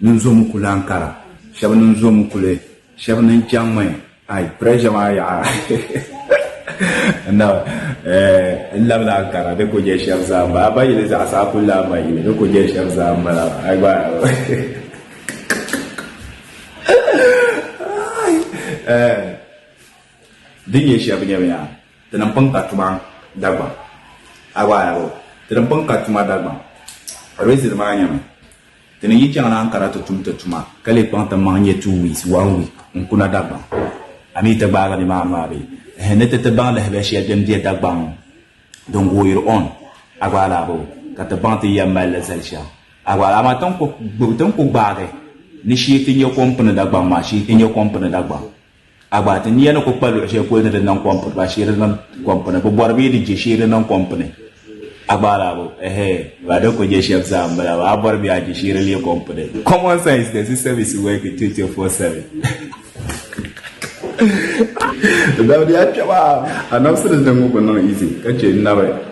Nin zo mi kuli an kara shɛb nin zo mi kuli shɛb nin chaŋ mi ai pressure maa yaɣa n na eh, n labila an kara di ku je shɛb zaa m-bala a ba yili zaɣisa a ku lahi ma yili di ku je shɛb zaa m-bala ai gba eh, din nyɛ shɛb nyɛmi yaa ti ni pun ka tuma Dagbaŋ a gba ai ti ni pun ka tuma Dagbaŋ reason maa nyɛmi Ti ni yi chaŋ ni Ankara ti tum ti tuma, ka lee kpaŋ ti maŋ nyɛ two weeks, one week, n kuna Dagbaŋ. A mi ti gbaagi nimaani maa bee? Ehe, ni ti ti baŋ lahabali shɛli din be Dagbaŋ din gooyiri on, a gba alaa boo, ka ti baŋ ti yɛn mali li zali shɛm. A gba alaa maa ti ni ku gbaagi ni shee ti nyɛ kom pini Dagbaŋ maa, shee ti nyɛ kom pini Dagbaŋ. A gba, ti nia ni ku kpa luɣ shɛli polo ni di niŋ kom puni, ba sheeri niŋ kom puni, bi bɔri bee di je sheeri niŋ kom puni? A gba laa bo, ɛhɛɛ, ba di ku je shɛm zaa m-bala, ba a bɔri bee a je sheeri leei kom puni? Common sense does its service work 24/7? Dabidi a kpɛma! Anabisili niŋbu ku niŋ easy ka che n naba.